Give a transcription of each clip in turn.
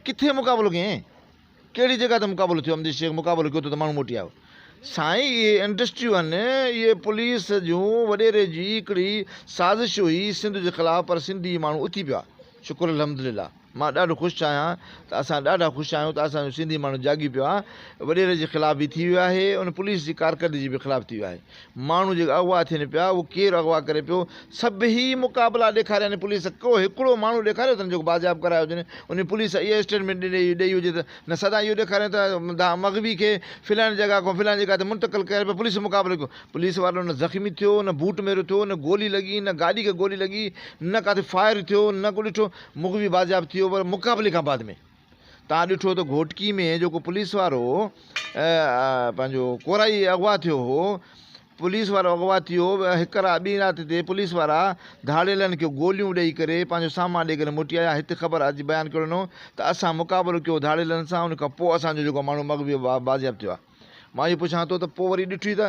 ڪٿي مقابلو ڪيائين؟ ڪهڙي جڳهه تي مقابلو ٿيو؟ امجد شيخ مقابلو ڪيو ته ته ماڻهو موٽي آيو. سائين اهي انڊسٽريون آهن، اهي پوليس جون وڏيري جي هڪڙي سازش هئي سنڌ جي خلاف پر سنڌي ماڻهو اٿي پيا. شڪر الحمدلله مان ڏاڍو خوش آهيان ته اسان ڏاڍا خوش آهيون ته اسان جو سنڌي ماڻهو جاڳي پيو آهي، وڏيري جي خلاف به ٿي ويو آهي ان پوليس جي ڪارڪردگي جي به خلاف ٿي ويو آهي. ماڻهو جيڪي اغوا ٿين پيا اهو ڪير اغوا ڪري پيو سڀئي مقابلا ڏيکاريان پوليس ڪو هڪڙو ماڻهو ڏيکاريو اٿن جيڪو بازياب ڪرايو هجن انهي پوليس اهو اسٽيٽمينٽ ڏني ڏئي هجي ته نه سدا اهو ڏيکارين ته دان مغوي کي فلاني جڳهه کان فلاني جڳهه تي منتقل ڪيو پيو پوليس مقابلو ڪيو پوليس وارو نه زخمي ٿيو نه بوٽ ميرو ٿيو نه گولي لڳي نه گاڏي کي گولي لڳي نه ڪاٿي فائر ٿيو نه ڪو ڏٺو مغوي بازياب ٿي ويو پر مقابلي کان بعد ۾ تان ڏٺو ته گهوٽڪي ۾ جيڪو پوليس وارو پنهنجو ڪورائي اغوا ٿيو هو پوليس وارو اغوا ٿيو هڪ رات ٻي رات تي پوليس وارا ڌاڙيلن کي گوليون ڏئي ڪري پنهنجو سامان ڏئي ڪري موٽي آيا هت خبر اڄ بيان ڪيو ڏنو ته اسان مقابلو ڪيو ڌاڙيلن سان ان کان پوء اسان جو جيڪو ماڻهو مغوي بازياب ٿيو آهي. مان اهو پڇان ٿو ته پوء وري ڏٺوئي ته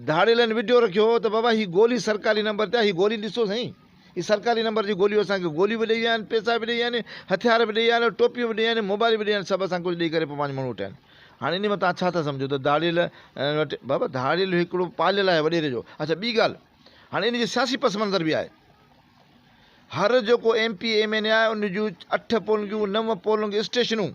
ڌاڙيلن وڊيو رکيو هو ته بابا هي گولي سرڪاري نمبر تي آهي هي گولي ڏسو سائين هي سرڪاري نمبر جي گوليون اسان کي گوليون به ڏئي ويا آهن پيسا به ڏئي ويا آهن هٿيار به ڏئي ويا آهن ٽوپيون به ڏئي ويا آهن موبائل به ڏئي ويا آهن سڀ اسان کي ڪجهه ڏئي ڪري پوء پنهنجو ماڻهو وٺيا آهن هاڻي انهي مان توهان ڇا ٿا سمجهو ته ڌاڙيل وٽ بابا ڌاڙيل هڪڙو پاليل آهي وڏيري جو اڇا ٻي ڳالهه هاڻي انهي جو سياسي پس منظر به آهي هر جيڪو M P M N A آهي ان جون اٺ پولنگيون نو پولنگ اسٽيشنون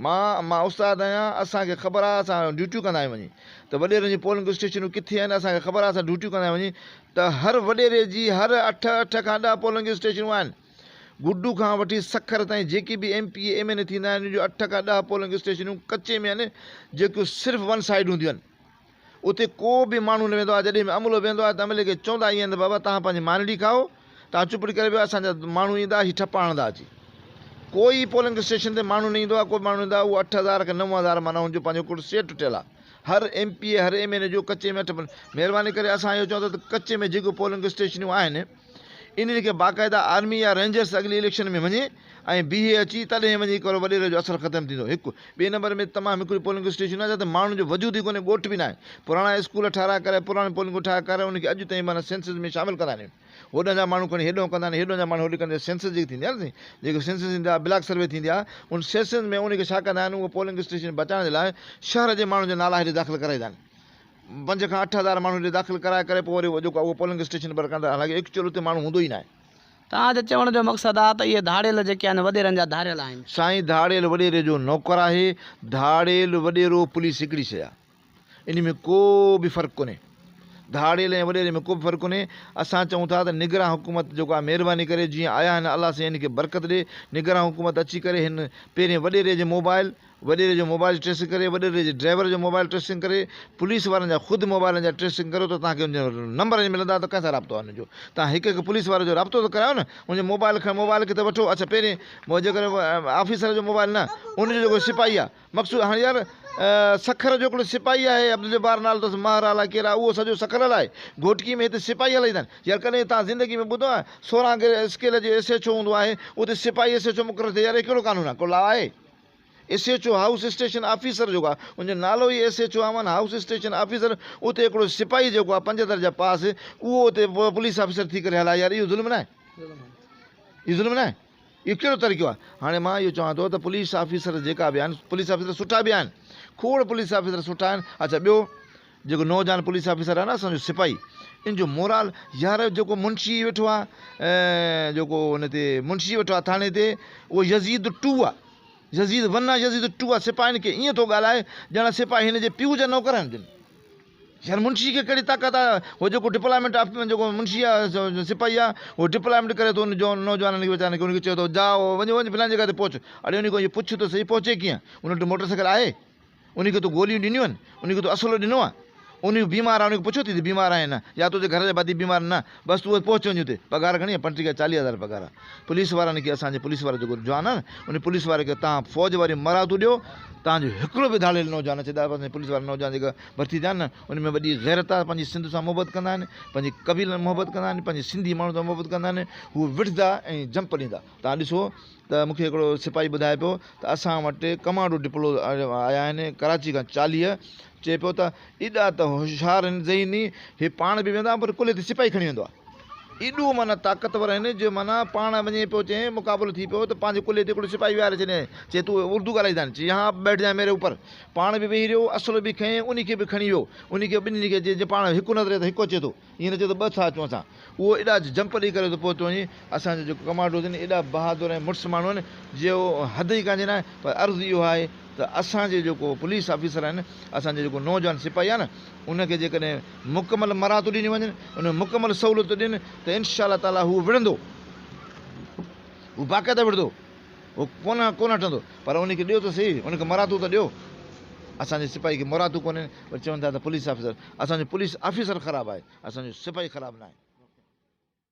مان مان استاد آهيان اسان کي خبر آهي اسان ڊيوٽيون ڪندا آهيون وڃي ته وڏيرن جي پولنگ اسٽيشنون ڪٿي آهن اسان کي خبر آهي اسان ڊيوٽيون ڪندا آهيون وڃي ته هر وڏيري جي هر اٺ اٺ کان ڏهه پولنگ اسٽيشنون آهن گڊو کان وٺي سکر تائين جيڪي به M P M N A ٿيندا آهن ان جو اٺ کان ڏهه پولنگ اسٽيشنون ڪچي ۾ آهن جيڪيون صرف ون سائيڊ هونديون آهن اتي ڪو به ماڻهو نه ويندو آهي. جڏهن به عملو ويندو آهي ته عملي کي چوندا ائين آهن ته بابا توهان پنهنجي مانيٽي کائو، توهان چپڙي ڪري ويهو، اسان جا ماڻهو ايندا هي ٺپا هڻندا اچي. ڪوئي پولنگ اسٽيشن تي ماڻهو نه ايندو آهي، ڪو به ماڻهو نه ايندو آهي. اهو اٺ هزار کن نو هزار معنيٰ هن جو پنهنجو ڪل سيٽ ٺهيل آهي. هر ايم پي اي، هر ايم اين اي جو ڪچي ۾ اٺ ملهه. مهرباني ڪري اسان اهو چون ٿا ته ڪچي ۾ جيڪي پولنگ اسٽيشنيون آهن، انهن کي باقاعده آرمي يا رينجرز اڳلي اليڪشن ۾ وڃي ۽ بيهي اچي تڏهن وڃي ڪرو وڏيري جو اثر ختم ٿيندو هڪ ٻئي نمبر ۾ تمام هڪڙي پولنگ اسٽيشن آهي جتي ماڻهن جو وجود ئي ڪونهي ڳوٺ به ناهي پراڻا اسڪول ٺاهرائي ڪرائي پراڻيون پولنگون ٺاهي ڪرائي انهن کي اڄ تائين به سينسز ۾ شامل ڪندا نهين هوڏانهن جا ماڻهو کڻي هيڏانهن ڪندا نهين هيڏانهن جا ماڻهو هوڏي ڪندا سينسز جيڪي ٿيندي آهي جيڪي سينسز ٿيندي آهي بلاڪ سروي ٿيندي آهي ان سينسز ۾ انهن کي ڇا ڪندا آهن اهو پولنگ اسٽيشن بچائڻ جي لاء شهر جي ماڻهن جا نالا هيڏي داخل ڪرائيندا آهن پنج کان اٺ هزار ماڻهن جي داخل ڪرائي ڪري پوء وري جيڪو آهي اهو پولنگ اسٽيشن پر ڪندا حالانڪه ايڪچوئل اتي ماڻهو هوندو ئي ناهي. توهان جو چوڻ جو مقصد آ ته اهي ڌاڙيل جيڪي آهن وڏيرن جا ڌاريل آهن. سائين ڌاڙيل وڏيري جو نوڪر آهي، ڌاڙيل وڏيرو پوليس هڪڙي شئي آ انهي ۾ ڪو به فرق ڪونهي ڌاڙيل ۽ وڏيري ۾ ڪو به فرق ڪونهي اسان چئون ٿا ته نگران حڪومت جيڪو آهي مهرباني ڪري جيئن آيا آهن الله سائين هن کي برڪت ڏي نگران حڪومت اچي ڪري هن پهرين وڏيري جي موبائل وڏيري جو موبائل ٽريسنگ ڪري، وڏيري جي ڊرائيور جو موبائل ٽريسنگ ڪري، پوليس وارن جا خود موبائلن جا ٽريسنگ ڪريو ته توهان کي ان جا نمبر اڃ ملندا ته ڪنهن سان رابطو آهي ان جو. توهان هڪ هڪ پوليس واري جو رابطو ته ڪرايو نه ان جو موبائل کڻ موبائل کي ته وٺو اڇا پهرين جيڪڏهن آفيسر جو موبائل نه ان جو جيڪو سپاهي آهي مقصود هاڻ يار سکر جو هڪڙو سپاهي آهي عبدالجبار نالو اٿس مهر الاء ڪير آهي اهو سڄو سکر هلائي گهوٽڪي ۾ هتي سپاهي هلائيندا آهن يار ڪڏهن توهان زندگي ۾ ٻڌو آهي سورهان اسڪيل جو ايس ايڇ او هوندو آهي اتي سپاهي ايس ايڇ او مقرر ٿئي يار هي ڪهڙو قانون آهي ڪو لا آهي S H O house station officer جيڪو آهي ان جو نالو ئي ايس ايڇ او آمن هائوس اسٽيشن آفيسر اتي هڪڙو سپاهي جيڪو آهي پنج درجا پاس اهو اتي پوليس آفيسر ٿي ڪري هلاء يار اهو ظلم ناهي اهو ظلم ناهي اهو ڪهڙو طريقو آهي هاڻي مان اهو چوان ٿو ته پوليس آفيسر جيڪا به آهن پوليس آفيسر سٺا به آهن کوڙ پوليس آفيسر سٺا آهن اڇا ٻيو جيڪو نوجوان پوليس آفيسر آهي نه اسان جو سپاهي ان جو مورال يار جيڪو منشي ويٺو آ جيڪو ان تي منشي ويٺو آ ٿاڻي تي اهو يزيد ٽو آ يزيد ون آ يزيد ٽو آ سپاهين کي ائين ٿو ڳالهائي ڄڻ سپاهي هن جي پيء جا نوڪر آهن جن يار منشي کي ڪهڙي طاقت آ هو جيڪو ڊپلائمنٽ آف جيڪو منشي آ سپاهي آ هو ڊپلائمنٽ ڪري ٿو ان جو نوجوانن کي ويچارن کي ان کي چئي ٿو جاء وڃ وڃ فلان جگه تي پهچ اڙي ان کان اهو پڇ ته صحيح پهچي ڪيئن ان وٽ موٽر سائيڪل آهي انهي کي تو گوليون ڏنيون آهن؟ انهي کي تو اسلحو ڏنو آهي؟ انهي هو بيمار آهي، انهي کي پڇيو ٿي ته بيمار آهي يا نه؟ يا تنهنجي گهر جا ڀاتي بيمار نه؟ بس تون بس پهچ وڃ اتي. پگهار گهڻي آهي؟ پنٽيهه کان چاليهه هزار پگهار آهي. پوليس وارن کي اسان جي پوليس وارا جيڪو جوان آهن، انهي پوليس واري کي توهان فوج واريون مراعتون ڏيو، توهان جو هڪڙو به ڌاڙيل نوجوان اچي ته اسان جي پوليس وارا نوجوان جيڪا ڀرتي ٿيا آهن، انهي ۾ وڏي غيرت آهي، پنهنجي سنڌ سان محبت ڪندا آهن، پنهنجي قبيلن سان محبت ڪندا آهن، پنهنجي سنڌي ماڻهن سان محبت ڪندا آهن، هو وڙهندا ۽ جمپ ڏيندا. توهان ڏسو. ته مون کي هڪڙو سپاهي ٻڌائي پيو ته اسان وٽ ڪمانڊو ڊپلو آيا آهن ڪراچي کان چاليهه چئي پيو ته ايڏا ته هوشيار آهن ذهني هي پاڻ به ويندا پر ڪلهي تي سپاهي کڻي ويندو آهي ايڏو معنيٰ طاقتور آهن جو معنيٰ پاڻ وڃي پيو چئين مقابلو ٿي پيو ته پنهنجي ڪلهي تي هڪڙو سپاهي ويهاري ڇڏيائين چئي تون اردو ڳالهائي ٿا چئي يهان آپ بيٺ جائين ميري اوپر پاڻ به ويهي رهيو اسلحو به کنئين انهي کي به کڻي ويو انهي کي ٻنهي کي چئي جي پاڻ هڪ نظر ته هڪ اچي ٿو ائين نه چئه ته ٻه ٿا اچون اسان. اهو ايڏا جمپ ڏئي ڪري ٿو پهتو وڃي. اسان جا جيڪو ڪمانڊوز آهن ايڏا بهادر ۽ مڙس ماڻهو آهن جو حد ئي ڪانجي ناهي پر عرض اهو آهي ته اسان جي جيڪو پوليس آفيسر آهن اسان جي جيڪو نوجوان سپاهي آهي نه ان کي جيڪڏهن مڪمل مراعتون ڏنيون وڃن ان کي مڪمل سهولتون ڏين ته ان شاء الله تعاليٰ هو وڙهندو هو باقاعده وڙهندو هو ڪونه ڪونه هٽندو پر ان کي ڏيو ته سهي ان کي مراعتون ته ڏيو اسان جي سپاهي کي مراعتون ڪونهن پر چون ٿا ته پوليس آفيسر اسان جو پوليس آفيسر خراب آهي اسان جو سپاهي خراب ناهي.